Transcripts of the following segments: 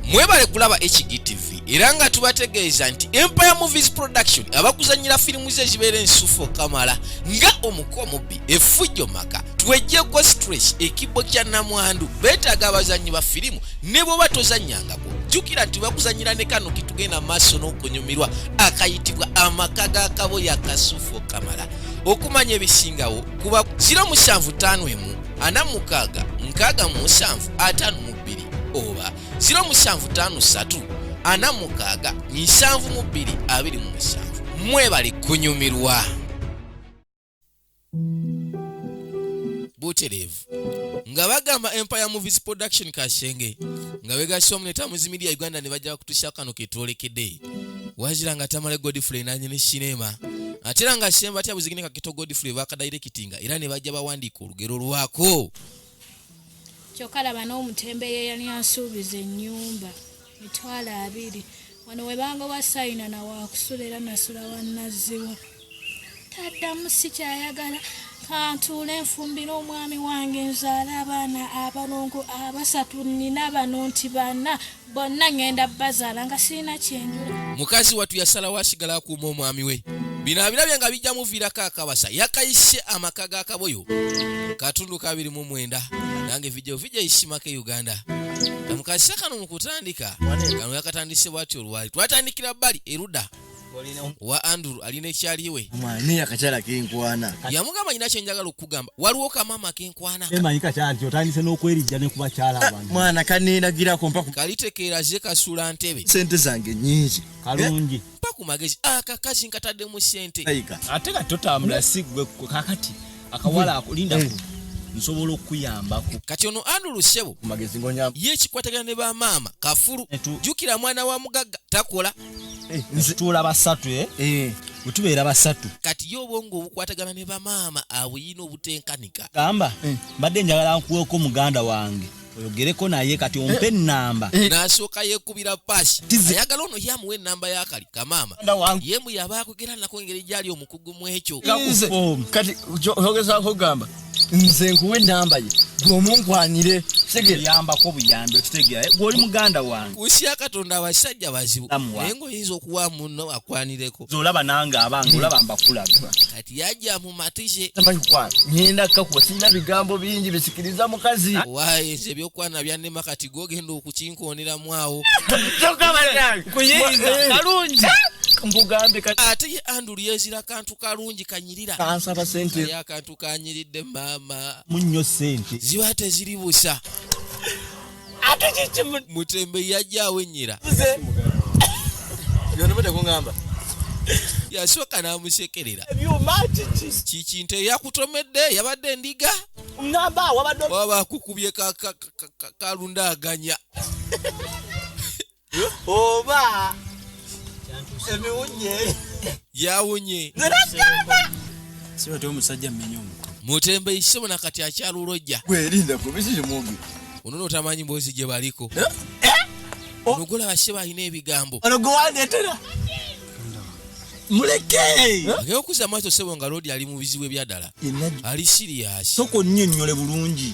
mwebale kulaba hgtv era nga tubategeeza nti empire movies production abakuzanyira firimu ze ezibeera ensufu okamala nga omuko omubbi efujjo maka twejjeko stress ekibbo kya namwandu beetaaga abazannyi ba firimu ne bwoba tozannyangako jjukira nti bakuzanyira ne kano ketugenda maaso n'okunyumirwa akayitibwa amaka ga kabo ya kasufu okamala okumanya ebisingawo kuba 075 emu ana mukaaga nkaaga mu musanvu ataano mu bbiri oba 0753467227 mwebali kunyumirwa butereevu nga bagamba empire movies production kashenge nga begasoma ne tamuzi media uganda ne bajja kutusa kano ketwolekede wazira nga tamale godfrey nanye ne cinema ate era nga shemba tyabuzigine kakito godfrey bakadairekitinga era ne bajja bawandiika olugero lwako kyokka laba n'omutembeeyi eyali ansuubiza ennyumba mitwalo abiri wano we bangoba sayina na waakusula era nasula wannaziwa taddamu si kyayagala kantuule nfumbire omwami wange nzaala abaana abalongo abasatu nnina bano nti bana bonna ŋŋenda bazaala nga sirina kyenjula mukazi wattu yasalawo asigala akuuma omwami we bino abirabye nga bijja muviirako akabasa yakayise amaka ga kaboyo katundu ka 29 nange vidio vija isimako e uganda namukazisa kano mu kutandika kano yakatandise bwati olwali twatandikira bbali eruda wa andrew alina ekyali we naye akakyala kenkwana yamugamba nyina kyenjagala okukugamba waliwo kamama kenkwana emanyi kakyala nti otandise n'okwerijja ne kubakyala ah, abantu mwana kaneenagirako mpa kalitekeera ze kasula ntebe sente zange nyingi kalungi eh, mpa ku magezi akakazi ah, nkatadde mu sente ate ka totambula si gwe kakati akawala akulinda eh. nsobola okukuyambako kati ono andulu sebo ye ekikwatagana ne bamaama kafulu jukira mwana wa mugagga takola eh, nzituula basatu eh? Eh. wetubeera basatu kati ye obwongo obukwatagana ne bamaama abuyina obutenkanika gamba mbadde njagala nkuweko muganda wange oyogereko naye kati ompe enamba eh. eh. nasooka yekubira pasi ayagala ono yamuwa enamba yakali kamaama yemu yaba akwogera nako engeri gyali omu okugu mu ekyo kati ogezaako okugamba nze nkuwa enamba ye gwomunkwanire segeyambako buyambi okitegeraye eh, gwoli muganda wange usiya katonda abasajja bazibu naye ngaoyinza okuwa muno akwanireko zolaba nange abange hmm. olaba mbakulaga kati yajja mumatise ngenda kakuba sirina bigambo bingi bisikiriza mukazi waye nze ebyokwana byanema kati gwogenda kukinkonderamu awo ate ye andulu yezira kantu kalungi kanyirira kansaba sente ya kantu kanyiridde maama munyo sente ziba teziri busa ate kiki mutembe yajja awenyera yasooka n'amusekerera kiki nte yakutomedde yabadde endiga ngamba wabadde waba kukubye ka- kalundaganya oba emiwunye yawunye nze nakigamba si batya omusajja mmenya omuko mutembe isebo na kati akyalulojja gwerinda kubisiri mubi ono notamanyi mbozi gye baliko Oh. nogula bashe balina ebigambo ono gwewandetera muleke agenda okuza amaaso sebo nga lodi ali mu bizibu ebyadala ali siriyasi soka onnyonnyole bulungi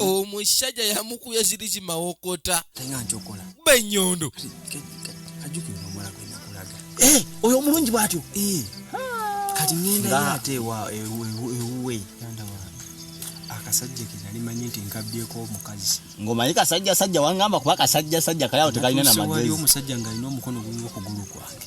omusajja yamukuya ziri kimawokota benyondo eh, oyo omulungi bwatyo eh. kati ngenda ate ewuwe akasajja kenali manyi nti nkabyeko omukazi ngomanyi kasajja sajja wangamba kuba kasajja sajja kalawo tekalina namagezi omusajja ngalina omukono gumu okugulu kwange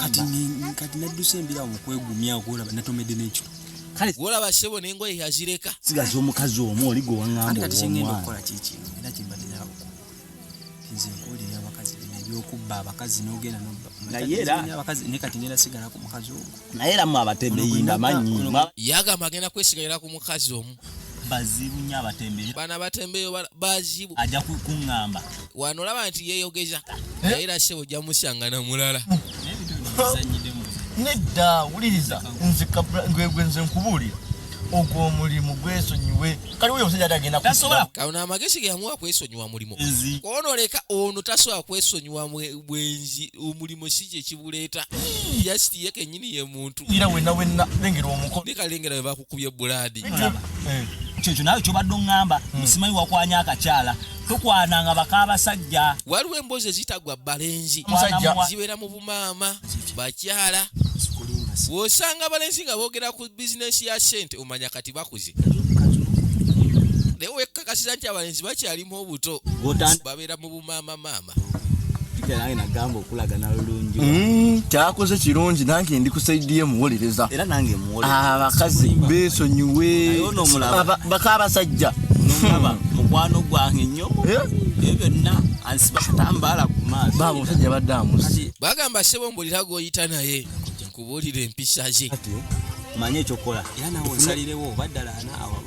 kati kati nadduse embira awo okwegumya okulaba natomedde n'ekito kale olaba sebo n'engoye yazireka sigaza omukazi omu oli gwe waŋŋamba kati kyengenda okukola kikino era kimbadde nawe nze nkuwulira abakazi bino ebyokubba abakazi n'ogenda nobba naye era abakazi naye kati ngenda sigala ku mukazi ogwo naye era mwe abatembe yimba manyi yagamba agenda kwesigalira ku mukazi omu bazibu nyo abatembeyo bana batembeyo bazibu ajja kuŋŋamba wano olaba nti yeyogeza eh? naye era sebo ojja musanga na mulala nedda wuliriza nze gwegwe nze nkubuulira ogwo omulimu gwesonyiwe kali oyo omusajja ate agenda kusobola kano amagezi geyamuwa kwesonyiwa mulimu ono leka ono tasobola kwesonyiwa bwenzi omulimu si kyekibuleeta yasiti ye kenyini ye muntu era wena wena lengera omuko ne kalengera we bakukubye buladi eh, kyekyo nawe kyobadde oŋŋamba hmm. musimanyi wakwanya akakyala tukwananga bakabasajja waliwo emboozi ezitagwa balenzi zibeera mu bumaama bakyala wosanga abalenzi nga boogera ku bizinesi ya sente omanya kati bakuze naye wekkakasiza nti abalenzi bakyalimu obuto obumaama maama nange nagamba okulagana lulungi mm, kyakoze kirungi nange ndi kusaidiye muwolereza era nange muwolereza abakazi ah, besonyiwe bakabasajja mukwano gwange nnyo eh? ebyo byonna ansiba katambaala ku maaso baba omusajja yabadde amusi bagamba sebo mbulira gwoyita naye kubuulira empisa ze manya ekyokukola era nawe nsalirewo oba ddala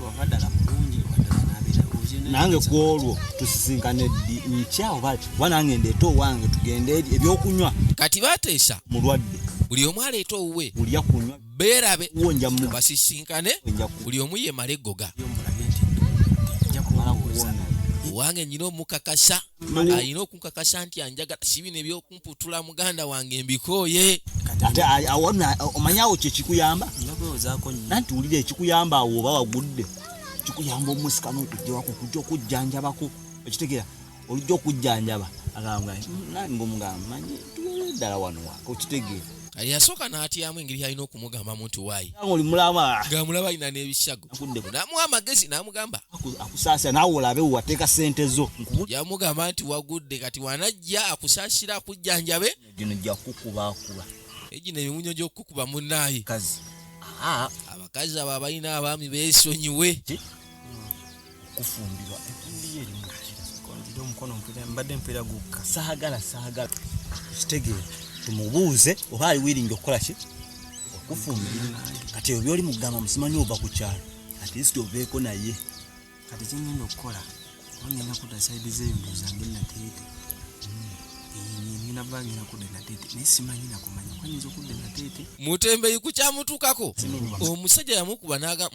oba ddala mulungi oba ddala nabeera nange ku olwo tusisinkane ddi nkya oba kuba nange ndeeta owange tugende eri ebyokunywa kati bateesa mulwadde buli omu aleeta owuwe ulya kunywa beerabe basisinkane buli omu yemale eggoga owange nyina omukakasa alina okunkakasa nti anjagala si bino ebyoku mputula muganda wange mbikooye ate awona omanya awo kyekikuyamba nanti wulira ekikuyamba awo oba wagudde kikuyamba omusika nokujjawako okujja okujjanjabako okitegera olujja okujjanjaba agamba nani ngaomugamba manyi tuwere ddala wanowa okitegeera yasooka n'atyamu engeri yalina okumugambamu nti waayi ng'amulaba alina n'ebishago n'amuwa amagezi n'amugamba akusaasira naawe olabe wateeka ssente zo yamugamba nti wagudde kati wanajja akusaasira akujjanjabe gino jja kukubakuba egino emiwunyo gy'okukukuba munnaaye abakazi abo abalina abaami beesonyiwe kufumbirwa ekumbi ye erimu kira omukono mbadde mpeera gukka saagala saagala kitegeera tumubuuze oba ali wiringi okukola ki okufumbira kati ebyo byoli mugamba musimanyi ova ku kyalo at least oveeko naye kati kyengenda okukola onyenda kuda saidi zeyo ndozange nateete mutembeyi kukyamutukako omusajja yamukuba naga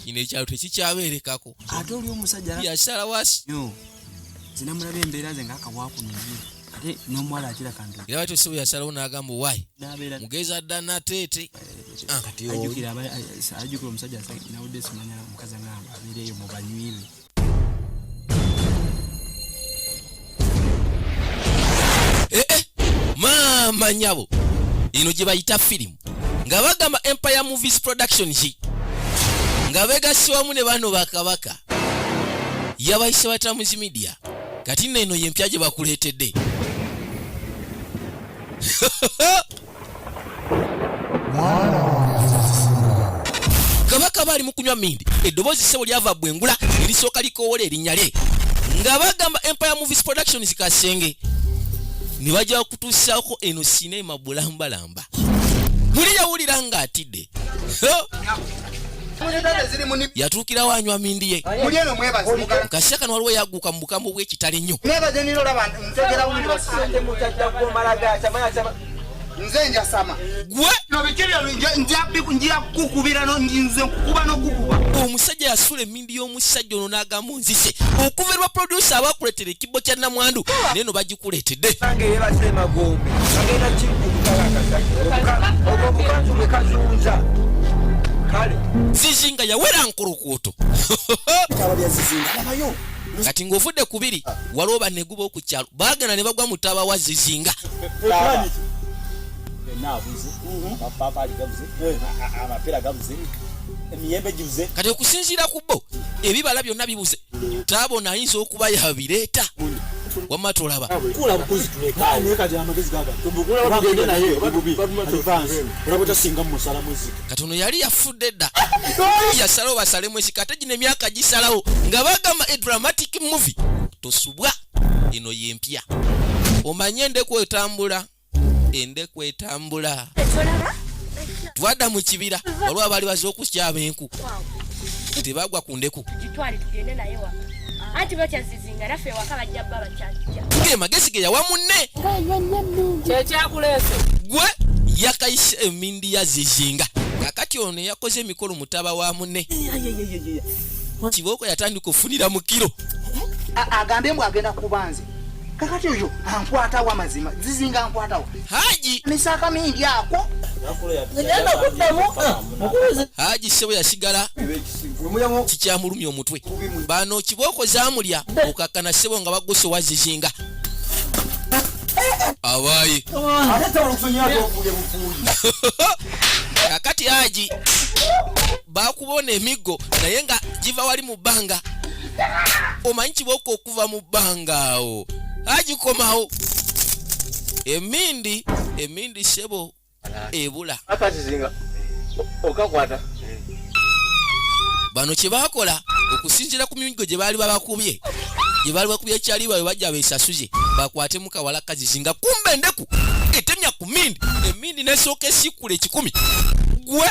ino ekyalo tekikyaberekako ate oli omusajja yasala wasi zinamulaba embeera ze ngaakawakunonye ate nomuwala akira kantu era batyo sibu yasalawo nagamba owayi mugezi adda nateete eh, ah. ajukira omusajja nawudde simanya mukazi anamba abeereyo mubanywibe eh, eh, maama nyabo ino gye bayita firimu nga bagamba empire movies production ki nga begassi wamu ne bano bakabaka yabayise batamuzi midia kati nno eno yempya gye bakuleetedde kabaka baali mu kunywa mindi eddoboozi ssebo lyava bwengula erisooka likoowola erinnya lye nga bagamba empire movies productions kasenge ne bajja kutuusaako eno sineema bulambalamba muli yawulira ng'atidde yatuukirawo anywa mindi ye mukasya kano waliwo yaguuka mu bukambwe bw'ekitale nnyo nze njasama gwe nobikebyo njakukubira nze nkukuba nokukuba omusajja yasula ennyimbi y'omusajja ono n'agamba onzise okuva lwa producer abakuleetera ekibbo kya namwandu naye no bagikuleetedde zizinga yawera nkulukuuto kati ng'ovudde ku biri waliwo baneguba oku kyalo baagenda ne bagwa mu taaba wa zizinga kati okusinziira ku bo ebibala byonna bibuze taabona ayinza okuba yabireeta wamma tolaba kati ono yali yafudde dda yasalawo basalemu esika ate gino emyaka gisalawo nga bagamba e dramatic movie tosubwa eno yempya omanye endeku etambula ende kwetambula twada mu kibira olwa baali baze okusyaba enku tebagwa ku ndeku ge magezi ge yawa munne gwe yakayise emindi yazizinga kakati ono yakoze emikolo mutaba wa munne kibooko yatandika okufunira mu kiro agambe mbu agenda kubanze kakati oyo ankwatawo amazima zizinga ankwatawo haji misaka mingi ako egenda kuddamu mukubize haji sebo yasigala kikyamulumya omutwe bano kibooko zamulya okakkana sebo nga baguse owa zizinga abayi kakati haji bakubona emiggo naye nga giva wali mu bbanga omanyi kibooko okuva mu bbanga awo agikomawo emindi emindi sebo ebula okakwata bano kyebakola okusinzira ku migo gye baali babakubye gye baali bakubye ekyali bawe bajja besasuze bakwate mukawala kazizi nga kumba endeku etemya ku mindi emindi nesooka esikkula ekikumi gwe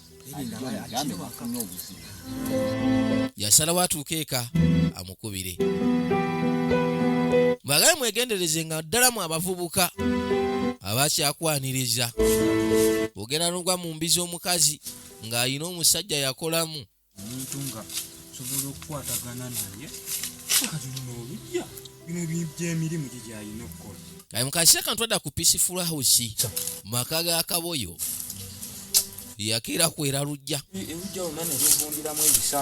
yasalawo atuuka eka amukubire bwagale mwegendereze nga ddala mu abavubuka abakyakwaniriza ogenda nogwa mu mbi z'omukazi ng'alina omusajja yakolamu omuntu nga osobola okukwatagana naye kati luno olujja bino byemirimu gyigyalina okukola kati mukasisa kantu adda ku peaceful house maka ga kaboyo yakeera kwera lujja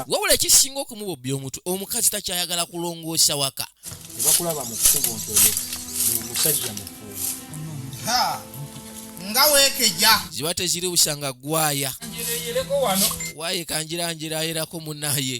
wabula ekisinga okumubobya omutwe omukazi takyayagala kulongoosa waka ebakulaba mu kkubo nti oyo musajja mukulu nga wekeja ziba teziri busanga gwaya waye kanjiranjiraerako munaye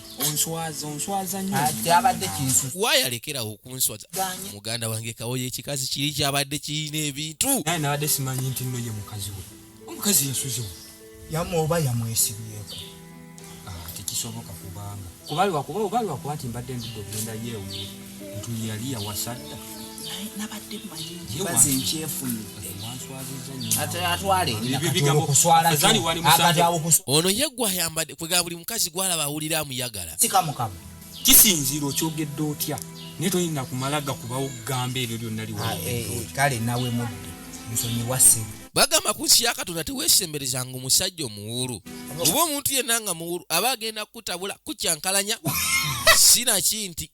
onswaza onswaza nnyo ati abadde kinsu waaya lekerawo okunswaza muganda wange kawoyo ekikazi kiri kyabadde kirina ebintu naye nabadde simanyi nti nno ye mukazi we omukazi yasuzewo yamu oba yamwesibyeko ah, tekisoboka kubanga kubalwakuba obalwakuba nti mbadde ndudde okugenda yeewuwe ntu yali yawasadda nabadde manyibaze nkyefunye ono ye gwayambadde kwega buli mukazi gwalaba awulira amuyagala sikamukama kisinziira okyogedde otya naye toyina kumala gakubawo kugamba ebyo byonna liwakale ah, eh, nawe mudde nsonyiwase bagamba ku nsi ya katonda teweesemberezanga omusajja omuwuulu oba omuntu yenna nga muwuulu aba agenda kukutabula kukyankalanya sinaki nti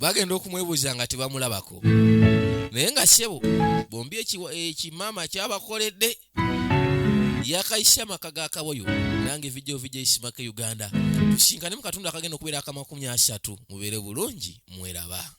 bagenda okumwebuuza nga tebamulabako naye nga sebo bombi ekimaama kyabakoledde yakayise amaka ga kaboyo nange vidio vidio isimaka uganda tusinkane mu katundu akagenda okubeera akamakumi asatu mubeere bulungi mweraba